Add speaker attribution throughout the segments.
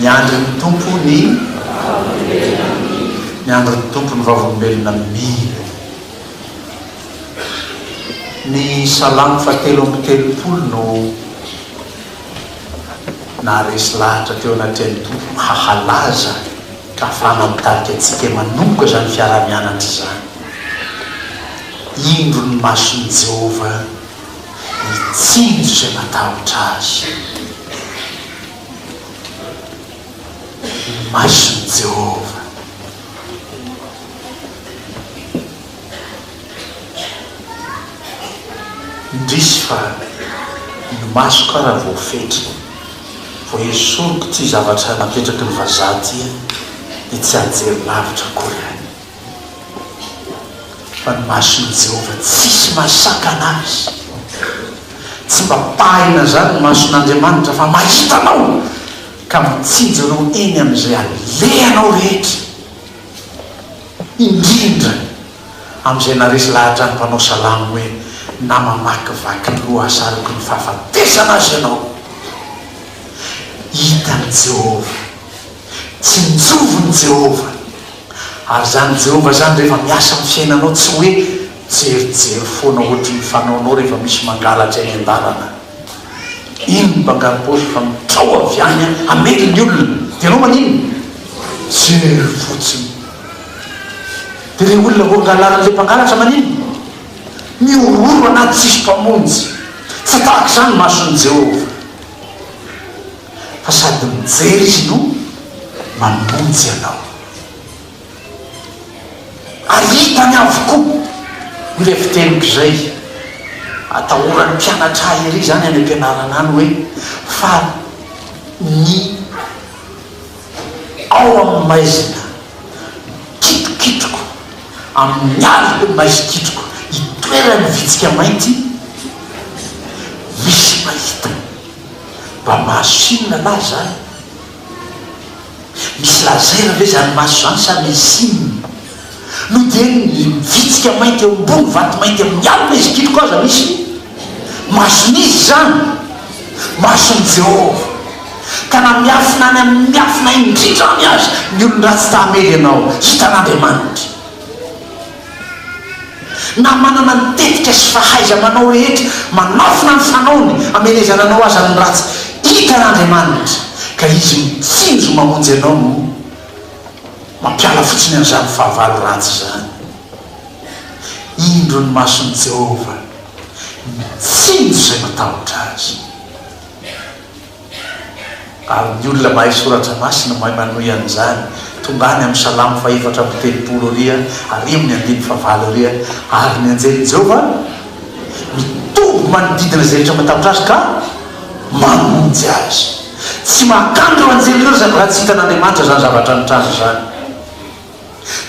Speaker 1: Miandry ny Tompo ny vavolombelona Miandry ny Tompo ny vavolombelona mila Ny salamo faha telo amby telopolo no naharesy lahatra teo anatrehan'ny Tompo mba halaza ka afahana mitarika antsika manomboka izany fiaraha-mianatra izany. Indro ny mason'i Jehovah! ny tsindrika natahotra azy. Ny mason'i Jehovah indrisy fa ny maso kara voafetra, vao esoriko ity zavatra napetraky ny vazaha ity dia tsy anjery lavitra akory any. Fa ny mason'i Jehovah tsisy mahasakana azy. Tsy mba pahina izany ny mason'Andriamanitra, fa mahita anao, ka mitsinjo anao eny amin'izay alehanao rehetra, indrindra amin'izay naharesy lahatra ny mpanao salamo hoe, Na mamakivaky lohasaroky ny fahafatesana aza ianao, hitan'i Jehovah. Tsy mijovy ny Jehovah. Ary izany Jehovah izany rehefa miasa amin'ny fiainanao tsy hoe mijerijery foana ohatry ny fanaonao rehefa misy mangalatra eny an-dalana. Iny ny mpangarom-paosy efa mitrao avy any hamely ny olona dia ianao maninona? Mijery fotsiny. Dia ilay olona voangalarin'ilay mpangalatra maninona? Mihorohoro anaty tsisy mpamonjy. Tsy tahaka izany ny mason'i Jehovah. fa sady mijery izy no manonjy anao. Ary hitany avokoa ilay fiteniko izay atahoran'ny mpianatra ahy ery izany any am-pianarana any hoe fa ny ao amin'ny maizina kitokitroko, amin'ny aliko maizikitroko itoeran'ny vitsika mainty misy mahita. Mba mahazo siny anah zany. Misy laser ve zany maso zany sa misy siny? No dia ny vitsika mainty eo ambony vato mainty amin'ny alina izy kitroko aza misy mason'izy zany? Mason'i Jehovah. Ka na miafina any amin'ny miafina indrindra any aza ny olon-dratsy ta hamely anao, hitan'Andriamanitra. Na manana ny tetika sy fahaiza-manao rehetra, manafina ny fanaony hamelezana anao aza ny ratsy, hitan' Andriamanitra, ka Izy mitsinjo mamonjy anao no mampiala fotsiny an'izany fahavalo ratsy izany. Indro ny mason'i Jehovah mitsinjo izay matahotra azy. Ary ny olona mahay soratra masina mahay manohy an'izany, tonga any amin'ny Salamo fahefatra amby telopolo ary ary amin'ny andininy fahavalo ary Ary ny anjelin'i Jehovah mitoby manodidina izay rehetra matahotra azy ka mamonjy azy. Tsy mahakana ireo anjely ireo izany raha tsy hitan'Andriamanitra izany zavatra nitranga izany.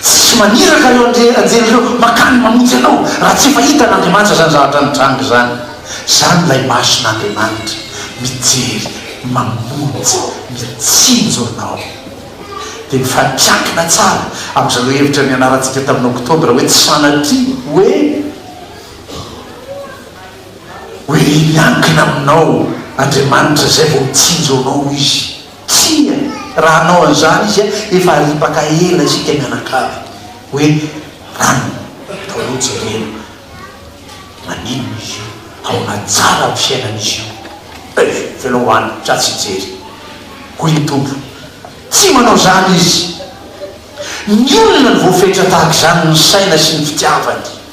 Speaker 1: Tsy maniraka ireo anjely ireo mankany mamonjy anao raha tsy efa hitan'Andriamanitra izany zavatra nitranga izany. Izany ilay mason'Andriamanitra mijery, mamonjy, mitsinjo anao. Dia mifampiankina tsara amin'izareo hevitra nianarantsika tamin'ny Oktobra hoe tsy sanatria hoe hoe miankina aminao Andriamanitra izay vao mitsinjo anao Izy. Tsia, raha hanao an'izany izy, efa haripaka ela isika mianakavy. Hoe rano, ataonao jerena. Maninona izy io? Ahoana tsara amin'ny fiainan'izy io? Eh, velao ho any, za tsy hijery. Hoy ny Tompo, Tsy manao izany izy. Ny olona no voafetra tahaka izany ny saina sy ny fitiavany.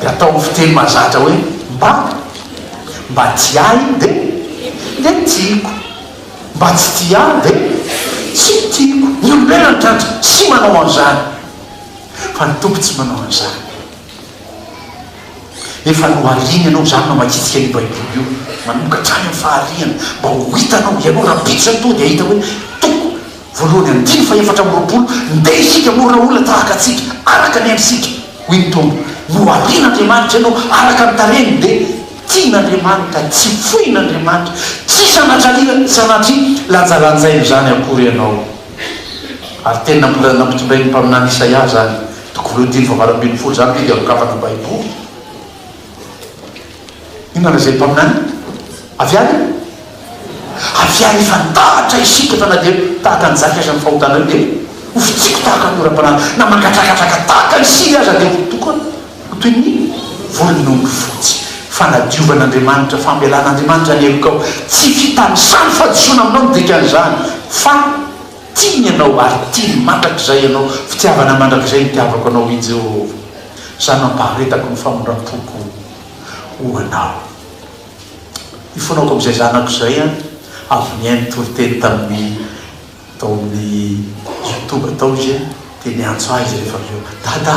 Speaker 1: Dia ataovy fiteny mahazatra hoe mba. Mba tsy ahy dia dia tiako. Mba tsy tia ahy dia tsy tiako. Ny olombelona ny tratra tsy manao an'izany fa ny Tompo tsy manao an'izany. Efa nohariany ianao izany namakiantsika an'io Baiboly io manomboka hatrany amin'ny fahariany mba ho hitanao ianao rahampitso an'Toa dia hahita hoe toko. Voalohany andininy fahefatra amby roapolo Ndeha isika hamorona olona tahaka antsika, araka ny endrisika, hoy ny Tompo. Noharian' Andriamanitra ianao araka ny tarehiny, dia tian' Andriamanitra, tsy foin' Andriamanitra, tsy sanatrian' sanatria lanjalanjaina izany akory ianao. Ary tena mbola nampitondray ny mpaminany Isaia izany, toko voalohany dimy faha valo ambin'ny folo izany, teny ampikamban'ny Baiboly. Inona ilay izay mpaminany? Avy any? Avy any efa nitahatra isika fa na dia tahaka ny zaka aza ny fahotanareo dia ho fitsiko tahaka ny oram-panala, na mangadragadraga tahaka ny sily aza dia ho tokony ho toy ny volon'ondry fotsy. Fanadiovan'Andriamanitra, fambelan'Andriamanitra ny helokao. Tsy fitanisany fahadisoana aminao ny dikan'izany fa. Tiany ianao ary tiany mandrakizay ianao, fitiavana mandrakizay nitiavako anao, hoy Jehovah, Izaho nampaharetako ny famindram-poko ho anao. Hifoanako amin'izay zanako izay an! Avy nihaino ny toriteny tamin'ny tao amin'ny YouTube tao izy dia niantso ahy izy rehefa avy eo, Dada!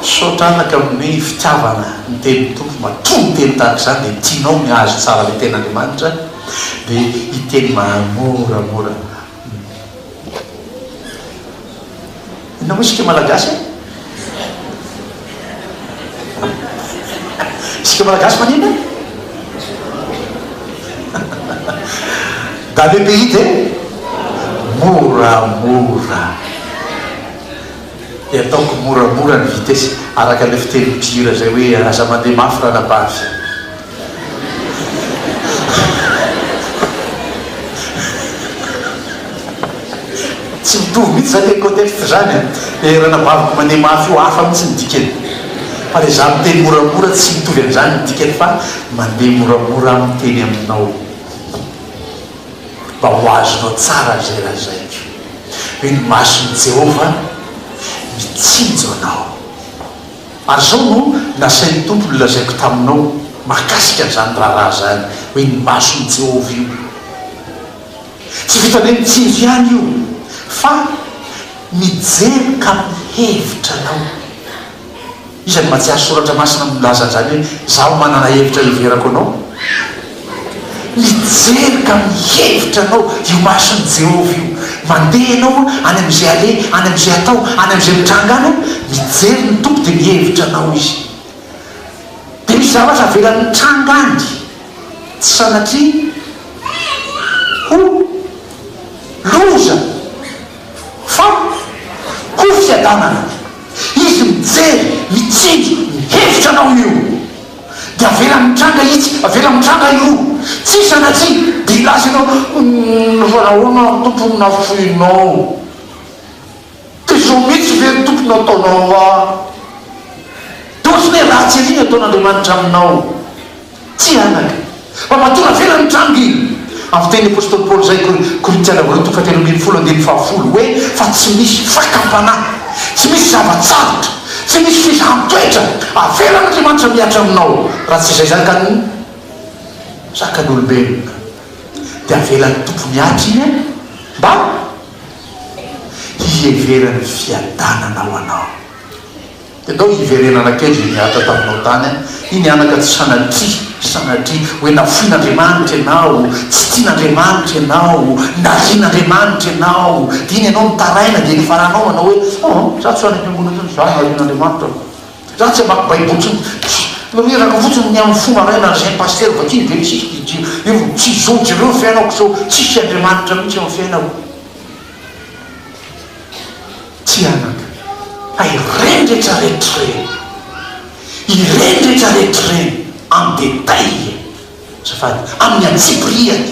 Speaker 1: Misaotra anaka amin'ny fitiavana ny tenin'ny Tompo matoa ny teny tahaka izany dia tianao ny hahazo tsara ilay tenin'Andriamanitra dia hiteny mahamoramora inona moa isika malagasy e? isika malagasy maninona e? dans le pays de moramora Dia ataoko moramora ny vitesse araka ilay fiteny mpihira izay hoe aza mandeha mafy ranabavy. Tsy mitovy mihitsy izany le contexte izany e. Le ranabaviko mandeha mafy io hafa mihitsy ny dikany. Fa le za miteny moramora tsy mitovy an'izany ny dikany fa mandeha moramora aho miteny aminao. mba ho azonao tsara izay lazaiko, hoy ny mason'i Jehovah, Mitsinjo anao. Ary izao no nasain'ny Tompo nolazaiko taminao mahakasika an'izany raharaha izany, hoy ny mason'i Jehovah, Io tsy vitanay mitsinjo ihany io, fa mijery ka mihevitra anao. Isan'ny mahatsiaro soratra masina milaza an'izany hoe, Izaho manana hevitra hiheverako anao. Mijery ka mihevitra anao io mason'i Jehovah io. Mandeha ianao any amin'izay aleha, any amin'izay atao, any amin'izay mitranga any, mijery ny Tompo dia mihevitra anao izy. Dia misy zavatra avelany mitranga any, tsy sanatria, ho loza, fa ho fiadanana. Izy mijery, mitsinjo, mihevitra anao io dia avelany mitranga itsy, avelany mitranga iroa, tsia sa na tsia dia hilaza ianao, Humm fa nahoana ary Tompo no nafoinao? Dia izao mihitsy ve ry Tompo no ataonao ahy? Dia ohatran'ny hoe ratsy ery ny ataon'Andriamanitra aminao. Tsy anaka. Mba matoa navela ny trano ry. Avy teny Apostoly Paoly izay, Kor. Korintiana roa toko fahatelo ambin'ny folo andininy fahafolo, hoe fa tsy misy fakam-panahy, tsy misy zava-tsarotra, tsy misy filan-toetra avelan'Andriamanitra mihatra aminao, raha tsy izay zakan'ny, zakan'olombelona. Dia avelan'ny Tompo mihatra iny an, mba hiheveran'ny fiadanana ho anao. Dia ndao hiverenana kely izay nihatra taminao tany an! Iny anaka tsy sanatria, sanatria, hoe nafoin'Andriamanitra ianao, tsy tian'Andriamanitra ianao, narian'Andriamanitra ianao, dia iny ianao nitaraina, dia nifaranao manao hoe, Aa! Izaho tsy ho any am-piangonana intsony, izaho narian'Andriamanitra aho. Izaho tsy hamaky Baiboly intsony. Tsia! Mireraka fotsiny ny amin'ny fo maraina izay ny pasitera vakiny dia isika dia dia dia dia tsy izao tsy ireo ny fiainako sao tsisy Andriamanitra mihitsy eo amin'ny fiainako. Tsy anaka. Fa ireny rehetra rehetra ireny, ireny rehetra rehetra ireny en détail, azafady, amin'ny antsipirihany.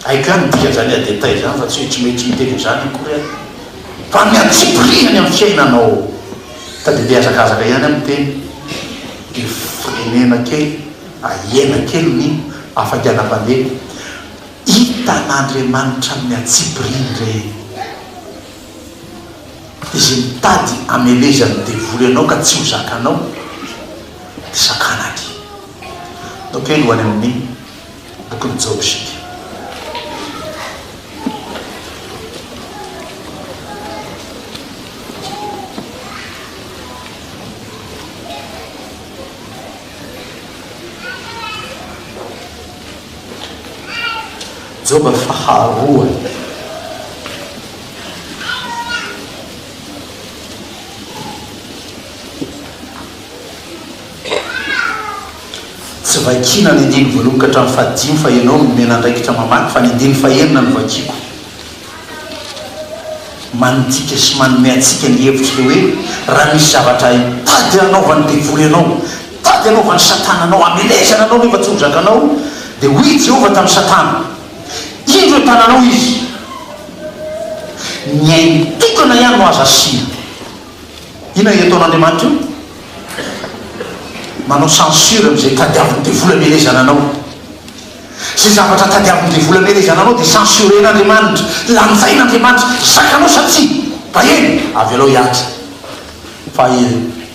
Speaker 1: Hay ka ny dikan'izany en détail izany fa tsy hoe tsy mety miteny an'izany akory aho. Fa amin'ny antsipirihany amin'ny fiainanao. Ka dia mihazakazaka ihany amin'ny teny. Dia firenena kely, ahena kely ny hafainganam-pandeha. Hitan'Andriamanitra amin'ny antsipiriany ireny. Izy mitady hamelezan'ny devoly anao ka tsy ho zakanao dia sakana aty. Nokeny ho any amin'ny bokin'i Joba isika. Joba faharoa. Tsy vakiana ny andininy voalohany ka hatramin'ny fahadimy fa ianao no nomena andraikitra mamaky fa ny andininy fahenina no vakiako. Mandinika sy manome antsika ny hevitr'ilay hoe raha misy zavatra hay tady hanaovan'ny devoly anao, Tady anaovan'i Satana anao, hamelezana anao nefa tsy ho zakanao, dia hoy i Jehovah tamin'i Satana, Indro eo tananao izy. Ny ainy tokana ihany no azo asiana. Inona ireto ataon'Andriamanitra io? Manao censure amin'izay tadiavin'ny devoly hamelezana anao. Izay zavatra tadiavin'ny devoly hamelezana anao dia censuren'Andriamanitra, lanjain'Andriamanitra, zakanao sa tsia? Baheno! Avelao hiatrika. Fa i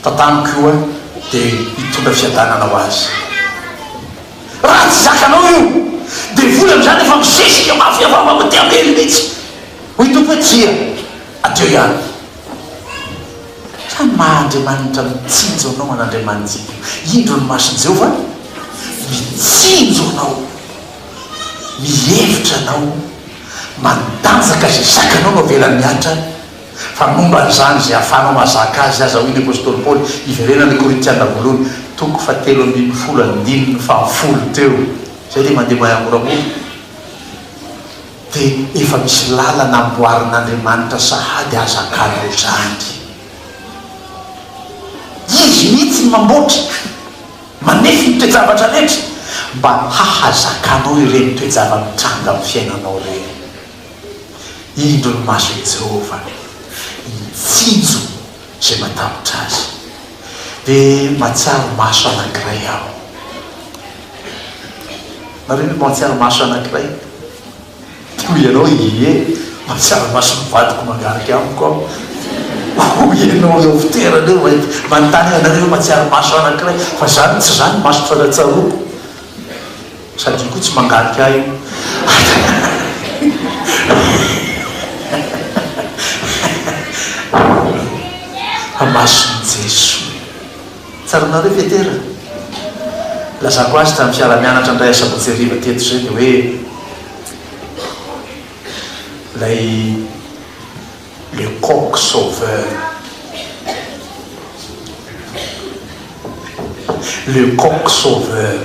Speaker 1: Tatano koa dia hitondra fiadanana ho azy. Raha tsy zakanao io devoly amin'izany efa misesika mafy avy ao aty ambely mihitsy. Hoy Tompo hoe, Tsia, adio ihany. Sa ny maha Andriamanitra mitsinjo anao an'Andriamanitsika? Indro ny mason'i Jehovah mitsinjo anao, mihevitra anao, mandanjaka izay zakanao no avelany mihatra. Fa momba an'izany, izay ahafahanao mahazaka azy aza, hoy ny apostoly Paoly, iverenan'ny Korintiana voalohany, toko fahatelo ambin'ny folo andininy fahafolo teo, izay dia mandeha mahamoramora, dia efa misy lalana amboarin'Andriamanitra sahady ahazakanao izany. Izy mihitsy no mamboatra, manefy ny toe-javatra rehetra, mba hahazakanao ireny toe-java-mitranga amin'ny fiainanao ireny. Indro ny mason'i Jehovah mitsinjo izay matahotra azy. Dia mahatsiaro maso anankiray aho. Nareo ve mahatsiaro maso anankiray? Dia hoy ianao, Ie, mahatsiaro mason'ny vadiko mangarika amiko aho. Hoy ianao, Eo fitoerana eo ve? Manontany ahy, Nareo ve mahatsiaro maso anankiray? Fa izany tsy izany ny maso tratsa-tsaroako. Sady io koa tsy mangalika ahy io. Amason'i Jesoa. Tsaranareo Petera? Nilazako azy tamin'ny fiara-mianatra indray asabotsy hariva teto izay dia hoe ilay Le coq sauveur Le coq sauveur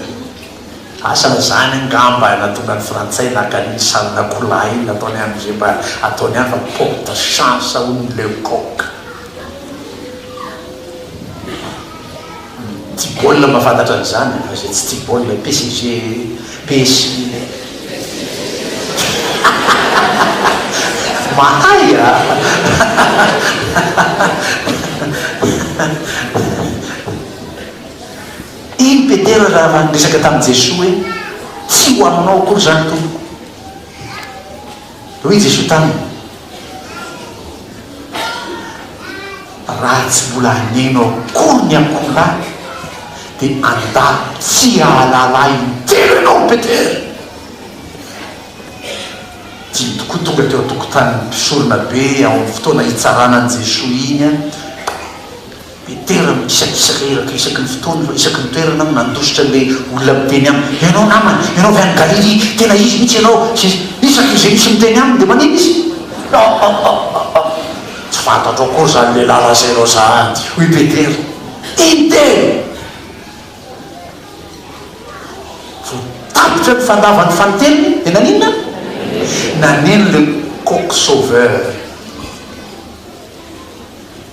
Speaker 1: Asa zany angamba nahatonga ny frantsay naka an' i Salon'Akoholahy iny nataony any ze mba ataony any fa porte chance hono ny le coq. Tsy baolina mba fantatra an'izany e, fa izay tsy tia baolina PSG, PSG le Mahay a! Iny Petera raha niresaka tamin'i Jesoa hoe, Tsy ho aminao akory izany Tompoko. Hoy Jesoa taminy, Raha tsy mbola haneno akory ny akoholahy, dia andalo tsy hahalala Ahy in-telo ianao, Petera! Dimy tokoa tonga teo an-tokotanin'ny mpisoronabe ao amin'ny fotoana hitsarana an'i Jesoa iny. Petera mikisakisaka iraka isaky ny fotoana fa isaky ny toerana no nandositra an'ilay olona miteny aminy, Ianao namana, ianao avy any Galilia, tena izy mihitsy ianao! sy ny sisa Isaky izay misy miteny aminy dia maninona izy? Hahahahahah! Tsy fantatro akory izany lehilahy lazainao izany, hoy Petera. Tintely! Vao tapitra ny fandavan'ny fanintelony dia naninona? Naneno le coq sauveur.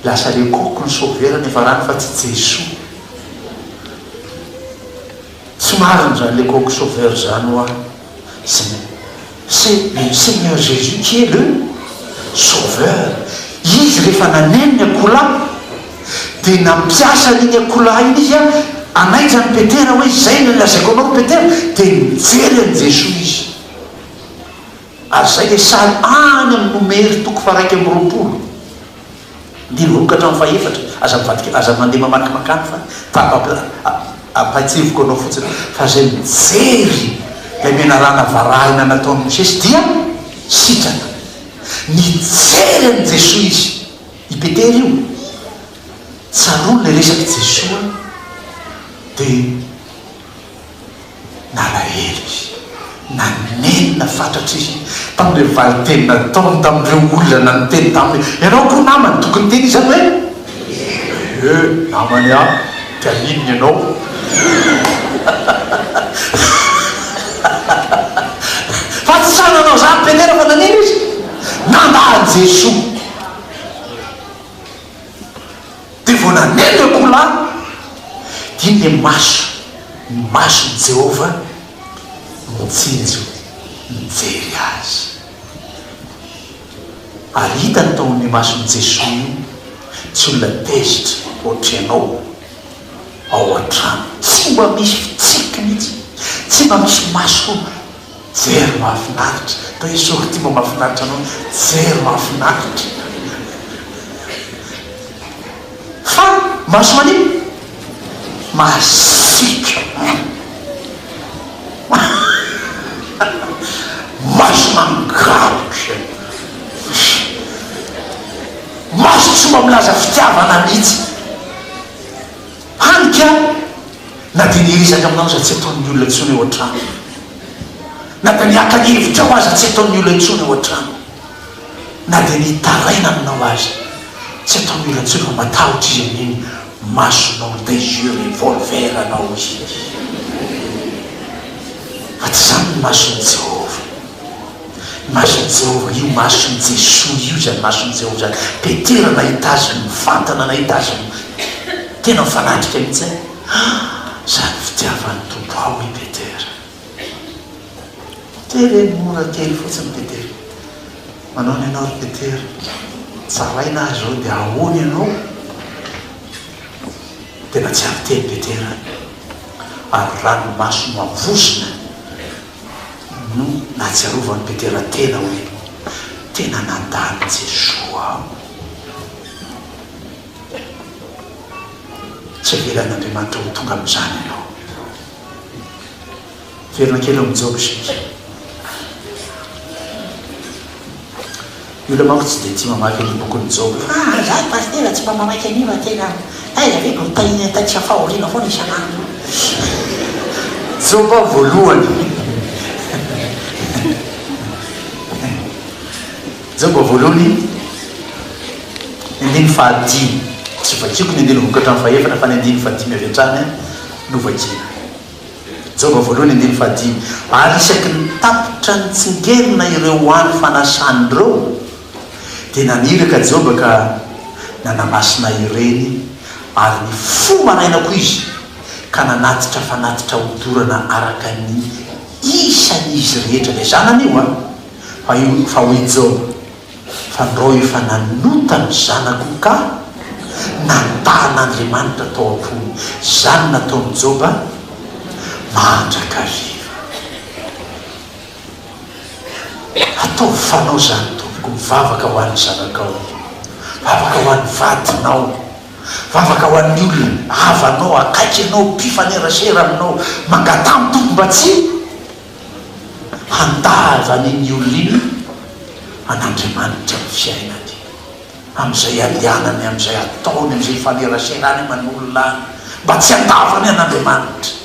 Speaker 1: Lasa le coq no sauveur niafarany fa tsy Jesoa. Tsy marina zany le coq sauveur zany hoa. C'est le Seigneur Jésus qui est le sauveur. Izy rehefa naneno ny akoholahy dia nampiasa an'iny akoholahy iny izy hanaitra an'i Petera hoe izay no lazaiko anao ry Petera dia nijery an'i Jesoa izy. Ary izay dia sahy any amin'ny Nomery toko faharaika amby roapolo andininy roa ka hatramin'ny fahefatra. Aza mivadika, aza mandeha mamakimaky any fa tapa-, ampahatsiahiviko anao fotsiny fa izay mijery ilay menarana varahina nataon'i Mosesy dia sitrana. Nijery an'i Jesoa izy. I Petera io, tsaroany ilay resak'i Jesoa dia. Nalahelo izy. Nanenina fatratra izy tamin'ilay valinteny nataony tamin'ireo olona niteny taminy hoe, Ianao koa namany? Tokony hiteny izany hoe, Ee, namany aho. Dia haninona ianao? Fa tsy sahy nanao izany Petera fa nanino izy? Nandà an'i Jesoa. Dia vao nanendy akoholahy dia iny ilay maso, ny mason'i Jehovah nitsinjo nijery azy. Ary hitany tao amin'io mason'i Jesoa io, tsy olona tezitra hoatry ianao ao an-trano, tsy mba misy fitsiky mihitsy, tsy mba misy maso. Jery mahafinaritra. Toa i Sortie mba mahafinaritra anao ny jery mahafinaritra. Fa maso manino? Masiaka. Maso mangarotra. Maso tsy mba milaza fitiavana mihitsy. Hany ka, na dia ny hiresaka aminao aza tsy ataon'ny olona intsony ao an-trano. Na dia ny haka ny hevitrao aza tsy ataon'ny olona intsony ao an-trano. Na dia ny hitaraina aminao aza tsy ataon'ny olona intsony fa matahotra izy amin'iny masonao ou tes yeux revolver anao iny. Fa tsy izany ny mason'i Jehovah. Mason'i Jehovah io mason'i Jesoa io izany mason'i Jehovah izany. Petera nahita azy mivantana nahita azy tena mifanatrika mihitsy an! Izany fitiavan'ny Tompo ao i Petera. Petera e mora kely fotsiny Petera. Manao ny anao ry Petera. Tsaraina ahy izao dia ahoana ianao? Tena tsy ary teny Petera. Ary ranomaso mavozona no nahatsiarovan'i Petera tena hoe tena nandà an'i Jesoa aho. Tsy avelan'Andriamanitra ho tonga amin'izany ianao. Miverina kely ao amin'i Joba isika. Ny olona manko tsy dia tia mamaky ny bokin'i Joba. Fa raha izaho no pasitera
Speaker 2: tsy mba manaiky an'io tena taiza ve no tahiany ataitsy fa fahoriana foana isan'andro.
Speaker 1: Joba voalohany Joba voalohany andininy fahadimy tsy vakiako ny andininy vokatran'ny fahefatra fa ny andininy fahadimy avy hatrany no vakiana. Joba voalohany andininy fahadimy, ary isaky ny tapitra nitsingerina ireo ho any fanasany ireo, dia naniraka Joba ka nanamasina ireny, ary ny fo maraina koa izy ka nanatitra fanatitra odorana araka ny isan'izy rehetra, ilay zanany io an, fa io, fa hoy Joba. Fandrao efa nanota ny zanako ka nandahan'Andriamanitra tao am-pony izany nataon'i Joba mandrakariva. Ataovy fanao izany tompoko, mivavaka ho an'ny zanakao, mivavaka ho an'ny vadinao, mivavaka ho an'ny olona havanao, akaiky anao, mpifanerasera aminao, mangataha ny tompo mba tsy. Handahaza an' iny olona iny an' Andriamanitra ny fiainany, amin' izay ialianany, amin' izay ataony, amin' izay ifaneraserany aman' olona any, mba tsy handavany an' Andriamanitra.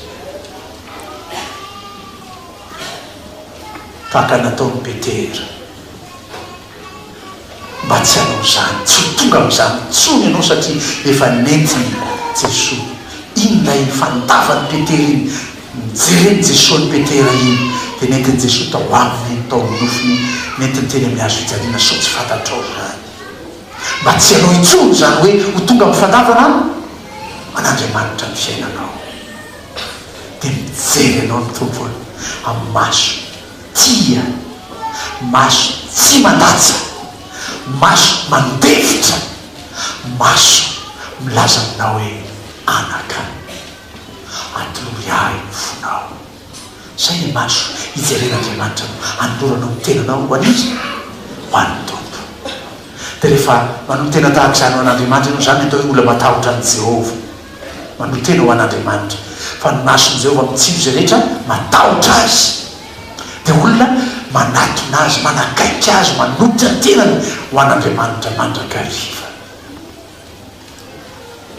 Speaker 1: Tahaka ny nataon' i Petera. Mba tsy hanao izany, tsy ho tonga amin'izany intsony ianao satria efa nentin'i Jesoa. Iny indray iny fandavan'i Petera iny, nijeren'i Jesoa an'i Petera iny dia nentin'i Jesoa tao aminy iny, tao amin'ny nofony iny, nentiny teny amin'ny hazo fijaliana sao tsy fantatrao izany. Mba tsy hanao intsony izany hoe ho tonga amin'ny fandavana an'Andriamanitra ny fiainanao. Dia mijery anao ny Tompo amin'ny maso Tia. Maso tsy mandatsa. Maso mandefitra. Maso milaza aminao hoe anaka. Atolory ahy ny fonao. Izay ny maso ijeren'Andriamanitra no anoloranao ny tenanao ho an'iza? Ho an'ny Tompo. Dia rehefa manolo-tena tahaka izany ho an'Andriamanitra ianao, izany no atao hoe olona matahotra an'i Jehovah. Manotena ho an'Andriamanitra, fa ny mason'i Jehovah mitsilo izay rehetra matahotra azy, dia olona manatona azy, manakaiky azy, manotra ny tenany ho an'Andriamanitra mandrakariva.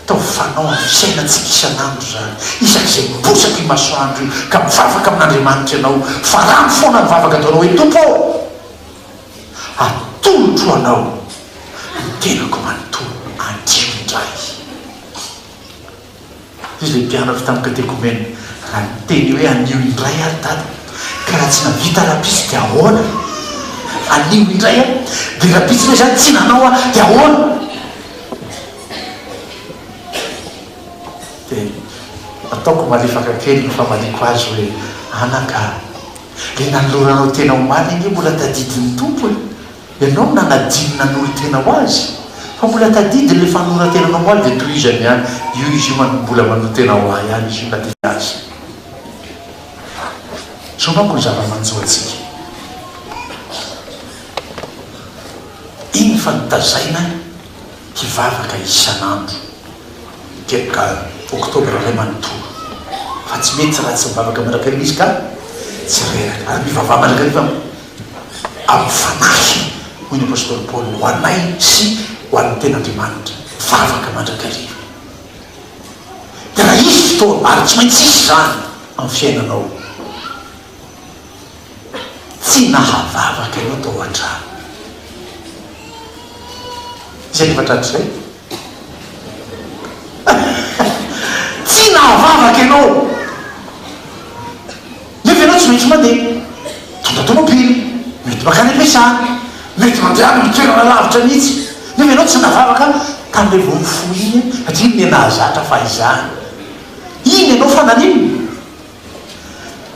Speaker 1: Taofanao amin'ny fiainantsika isan'andro izany, isak'izay miposaka io masoandro io ka mivavaka amin'Andriamanitra ianao, farano foana ny vavaka ataonao hoe, Tompo ô, atolotro ho anao ny tenako manontolo, andrio indray. Izy dia nigadra avy tamin'ny katekomena. Raha niteny hoe anio indray ary Dada, ka raha tsy nahavita rahampitso dia ahoana? Anio indray a! Dia rahampitso ve izany tsy nanao aho dia ahoana? Dia nataoko malefaka kely ny famaliako azy hoe, Anaka a! Ilay nanoloranao tena omaly ange mbola tadidin'ny Tompo e! Ianao no nanadia ny nanorin-tena ho azy, fa mbola tadidiny le fanoran-tenanao ho azy dia tohizany ihany, io izy io manko mbola manoa tena ho ahy ihany izy io na dia azy. Zao manko ny zava-manjo antsika. Iny fa notazaina hivavaka isan'andro telo ka Octobre indray manontolo fa tsy mety raha tsy mivavaka mandrakariva izy ka tsy reraka. Ary mivavaha mandrakariva amin'ny Fanahy, hoy ny apostoly Paoly, ho anay sy ho an'ny tena Andriamanitra, vavaka mandrakariva. Dia raha hisy fotoana, ary tsy maintsy hisy izany amin'ny fiainanao, tsy nahavavaka ianao tao an-trano, izay efa tratry izay, Tsy nahavavaka ianao, nefa ianao tsy maintsy mandeha. Mitondra tômôbily, mety mankany am-piasana, mety mandeha amin'ny toerana lavitra mihitsy, nefa ianao tsy nahavavaka tamin'iny vao nifoha iny an, satria inona nahazatra fa izany. Iny ianao fa naninona?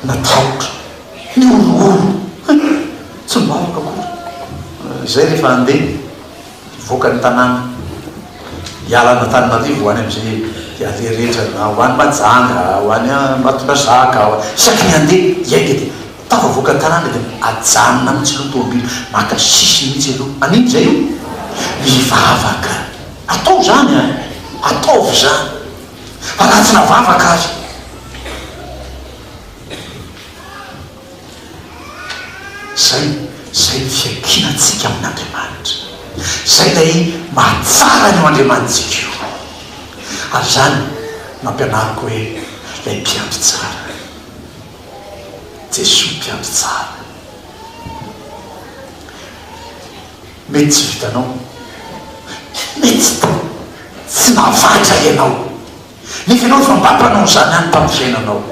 Speaker 1: Natahotra, nihorongorona, tsy nivavaka akory. Izay rehefa handeha. Nivoaka ny tanàna hiala an'Antananarivo ho any amin'izay hialeha rehetra na ho any Mahajanga, ho any Ambatondrazaka, ho any, isaky ny handeha hiainga dia tafavoaka ny tanàna dia ajanona mihitsy aloha ny tomobil, maka sisiny mihitsy aloha, an'inona izay io? Mivavaka, atao izany an! ataovy izany fa na tsy navavaka aza. Izay, izay ny fiankinantsika amin'Andriamanitra. Izay ilay mahatsara an'io Andriamanitsika io. Ary izany no ampianariko hoe ilay mpiandry tsara. Jesoa mpiandry tsara. Mety tsy vitanao. Mety tsy nahavatra ianao. Nefa ianao efa mba mpanao an'izany ihany tamin'ny fiainanao.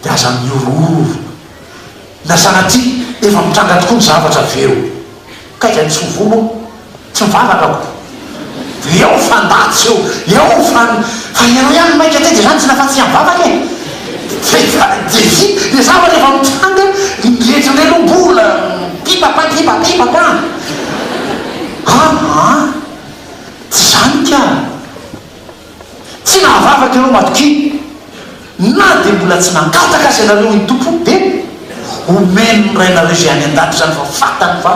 Speaker 1: Dia aza mihorohoro. Na sanatria efa mitranga tokoa ny zavatra avy eo. Ka izay misovono hono, tsy mivavaka aho. Dia eo fa ndaty eo, eo fa ny. Fa ianao ihany mainka ity dia izany tsy nahafaty tsy mivavaka e! Dia vita ilay zavatra rehefa mitranga ny rehetra indray aloha mbola pipapa pipa pipapa. Aa tsy izany ka! Tsy nahavavaka ireo matokia, na dia mbola tsy nangataka aza ianareo, hoy ny Tompo, dia homeny ny Rainareo izay any an-danitra izany, fa fantany fa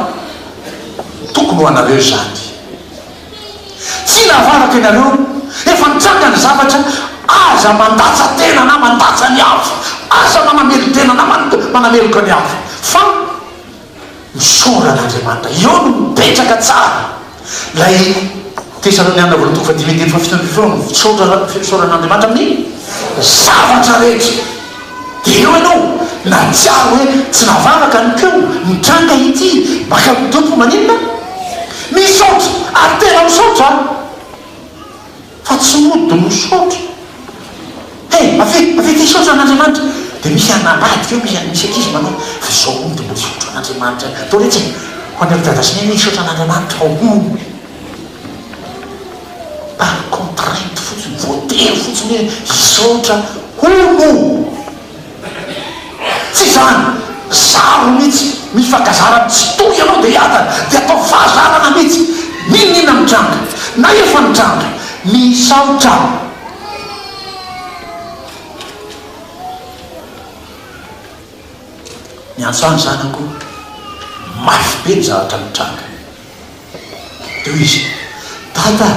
Speaker 1: tokony ho anareo izany. Tsy nahavavaka ianareo, efa nitranga ny zavatra, aza mandatsa-tena na mandatsa ny hafa, aza manamelo-tena na manameloka ny hafa, fa ny soran'Andriamanitra. Eo no mipetraka tsara ilay Tesaloniana voalohany toko fahadimy andininy fahafito ambin'ny folo ny fisaoran'Andriamanitra amin'ny zavatra rehetra. Dia eo ianao nahatsiaro hoe tsy navavaka ny ko, nitranga ity, maka amin'ny Tompo maninona? Misaotra ary tena misaotra a! Fa tsy mody misaotra. Hey, avia, avia aty hisaotra an'Andriamanitra. Dia misy hanambady ve? Misy misy ankizy manao, fa izao hono dia mbola hisaotra an'Andriamanitra ihany. Tao letsy e! Ho an'i ry Dada sy Neny hoe hisaotra an'Andriamanitra aho hono. Par contrainte fotsiny, voatery fotsiny hoe hisaotra hono. Tsy izany! Zaro mitsy! Mifankazara am tsitoha ianao dia hiadana! Dia ataovy fahazarana mitsy! N'inon'inona mitranga! Na efa nitranga! Misaotra! Miantso any zanako! Mafy be ny zavatra mitranga! Teo izy, Dada,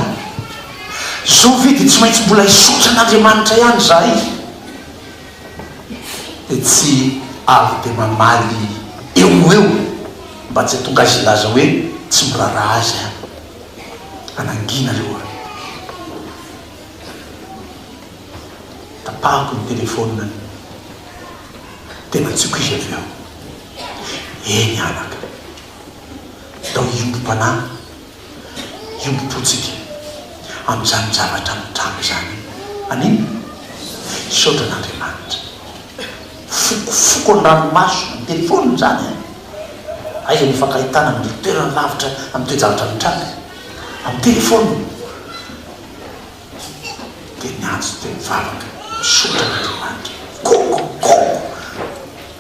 Speaker 1: izao ve dia tsy maintsy mbola hisaotra an'Andriamanitra ihany izahay? Dia tsy avy dia mamaly eo ho eo mba tsy hahatonga azy hilaza hoe tsy miraharaha azy an! Anangianareo an! Tapahako ny telefaoninany. Dia natsiako izy avy eo. Eny anaka. dia ho iombom-panahy, hiombom-po tsika amin'izany zavatra mitranga izany. Amin. Misaotra an'Andriamanitra. Fokofoko ny ranomaso ny telefônina izany an! Aiza ny hifankahitana amin'ireo toerana lavitra amin'ny toe-javatra mitranga? Amin'ny telefônina. dia niantso teny mivavaka, Misaotra an'Andriamanitra, Gongo! Gongo!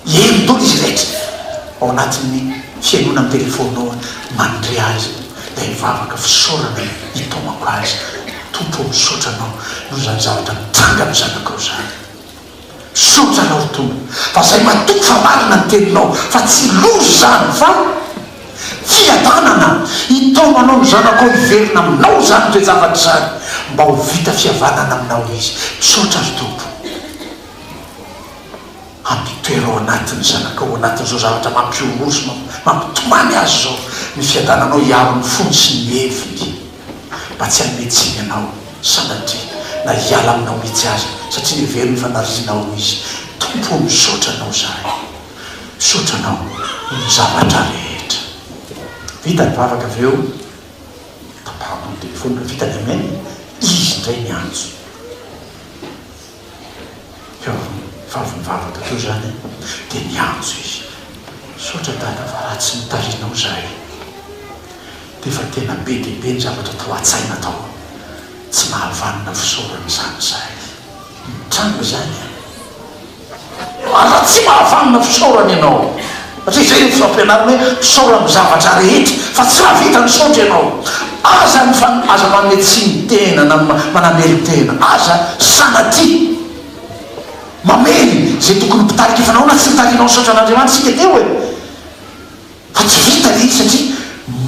Speaker 1: Henonao izy rehetra ao anatin'ny fihainoana amin'ny telefaonina ao aho, mandre azy dia hivavaka fisaorana hitaomako azy. Tompo ô, misaotra Anao noho izany zavatra nitranga amin'ny zanakao izany. Misaotra anao ry Tompo fa zay matoky fa marina ny teninao fa tsy loza izany fa fiadanana, hitaono anao ny zanako ao hiverina aminao izany toe-javatra izany mba ho vita fihavanana aminao izy, misaotra ry Tompo hampitoera ao anaty ny zanakao ao anatin'izao zavatra mampihomoa sy mampitomany azy izao, ny fiadananao hiaro ny fony sy ny heviny. mba tsy hanome tsiny anao sanatria na hiala aminao mihitsy aza satria hevero ny fanarianao hoy izy Tompo o misaotra anao zahay misaotra anao noho ny zavatra rehetra vita ny vavaka avy eo tapahako ny telefonina vitany amen izy indray niantso. Teo amin'ny vavim-bavaka teo izany dia niantso izy, Misaotra Dada fa raha tsy nitarihanao izahay dia efa tena be dia be ny zavatra tao an-tsaina tao. Tsy nahavanona fisaorana izany izahay. Nitranga izany an! Aza tsy mahavanona fisaorana ianao satria izay no fampianarina hoe misaora amin'ny zavatra rehetra fa tsy mahavita misaotra ianao. Aza mifan aza manome tsiny tena na manamely tena. Aza sanatia mamely izay tokony mpitarika efa nahoana tsy nitarianao nisaotra an'Andriamanitra isika teo e? Fa tsy vita ilay izy satria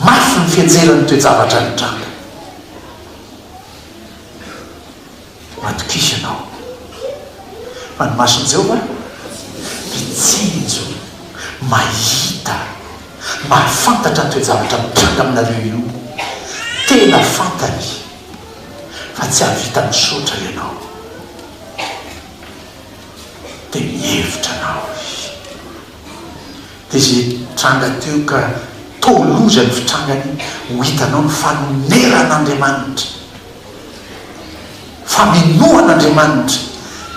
Speaker 1: mafy ny fianjeran'ny toe-javatra nitranga. Matokisana aho fa ny mason'i Jehovah dia tsinjo, mahita, mahafantatra ny toe-javatra mitranga aminareo io. Tena fantany fa tsy hahavita misaotra ianao, dia mihevitra anao Izy. Dia izay nitranga teo ka toa loza ny fitrangany, ho hitanao ny fanoneran'Andriamanitra. Famenoan'Andriamanitra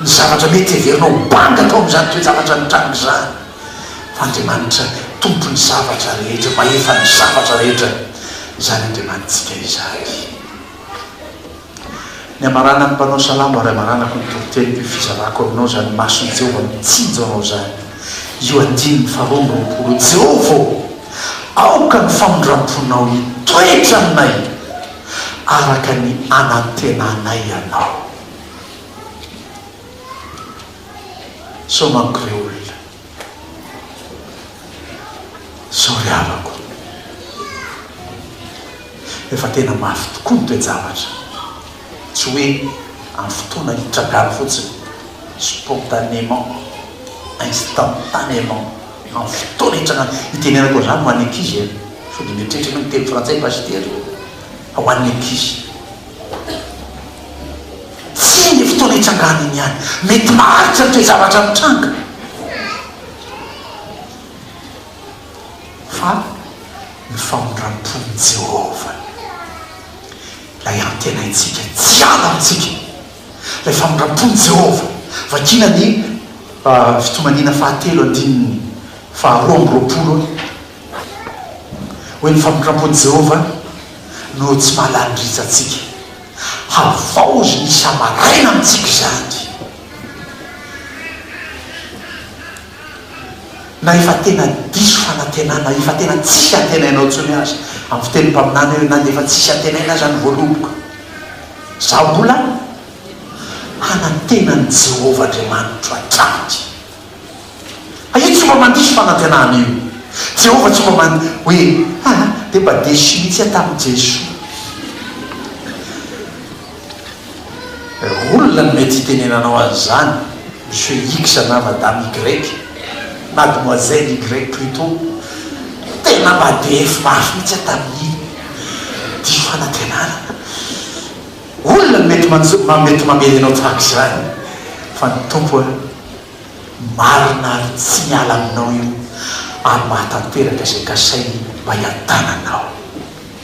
Speaker 1: ny zavatra mety heverina ho banga tao amin'izany toe-javatra nitranga izany, fa Andriamanitra Tompon'ny zavatra rehetra, Mahefan'ny zavatra rehetra izany Andriamanitsika izany. Ny hamaranan'ny mpanao salamo, Ary hamaranako ny toriteniko, io fizarako aminao izany, mason'i Jehovah mitsinjo anao izany, io andininy faharoa amby roapolo, Jehovah ô, aoka ny famindram-ponao hitoetra aminay. araka ny anantenanay ianao. Sao manko re olona. Sao ry havako. Efa tena mafy tokoa ny toe-javatra. Tsy hoe amin'ny fotoana hitragany fotsiny, spontanément, instantanément. Efa fotoana hitranga itenenako an'izany ho an'ny ankizy e! Sao dia mieritreritra ianao miteny frantsay pasitera fa ho an'ny ankizy. Tsia ny fotoana hitrangany iny ihany. Mety maharitra ny toe-javatra mitranga fa ny famindram-pon'i Jehovah ilay antenaintsika tsy hiala amintsika. Ilay famindram-pon'i Jehovah, vakiana ny Fitomaniana fahatelo andininy faharoa amby roapolo, hoe ny famindram-pon'i Jehovah no tsy mahalala ny ritsantsika. Havaoziny isa-maraina amintsika izany. Na efa tena diso fanantenana, efa tena tsisy antenainao intsony aza, amin'ny fitenin'ny mpaminany hoe, na dia efa tsisy antenaina aza ny voaloboka, izaho mbola hanantena an'i Jehovah Andriamanitro hatrany. A Io tsy mba mandiso fanantenana io. Jehovah tsy mba man hoe, Aa, dia mba deso mihitsy aho tamin'i Jesoa. Olona no mety hitenenanao an'izany Monsieur X na Madame Y, Mademoiselle Y plutôt, tena mba DF mafy mihitsy aho tamin'iny diso fanantenana. Olona no mety manjo, mety mamely anao tahaka izany fa ny Tompo a, marina ary tsy miala aminao io ary mahatanteraka izay kasainy mba hiadananao.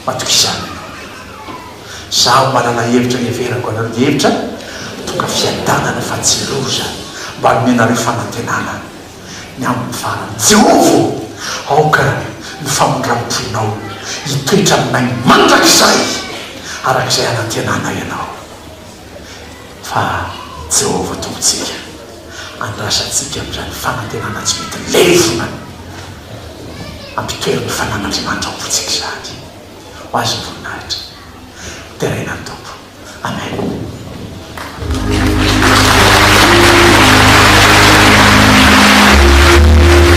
Speaker 1: Matokizany ianao ianao. Zaho manana hevitra heverako anareo dia hevitra mitondra fiadanana fa tsy loza mba hanome anareo fanantenana ny amin'ny farany. Jehovah ô, aoka ny famindram-ponao hitoetra aminay mandrakizay araka izay anantenanay anao fa Jehovah Tompontsika. Andrasa antsika amin'izany fanantenana tsy mety levona hampitoeran'ny fanan'Andriamanitra ao am-pontsika izany. Ho Azy ny voninahitra. Deraina ny Tompo. Amen.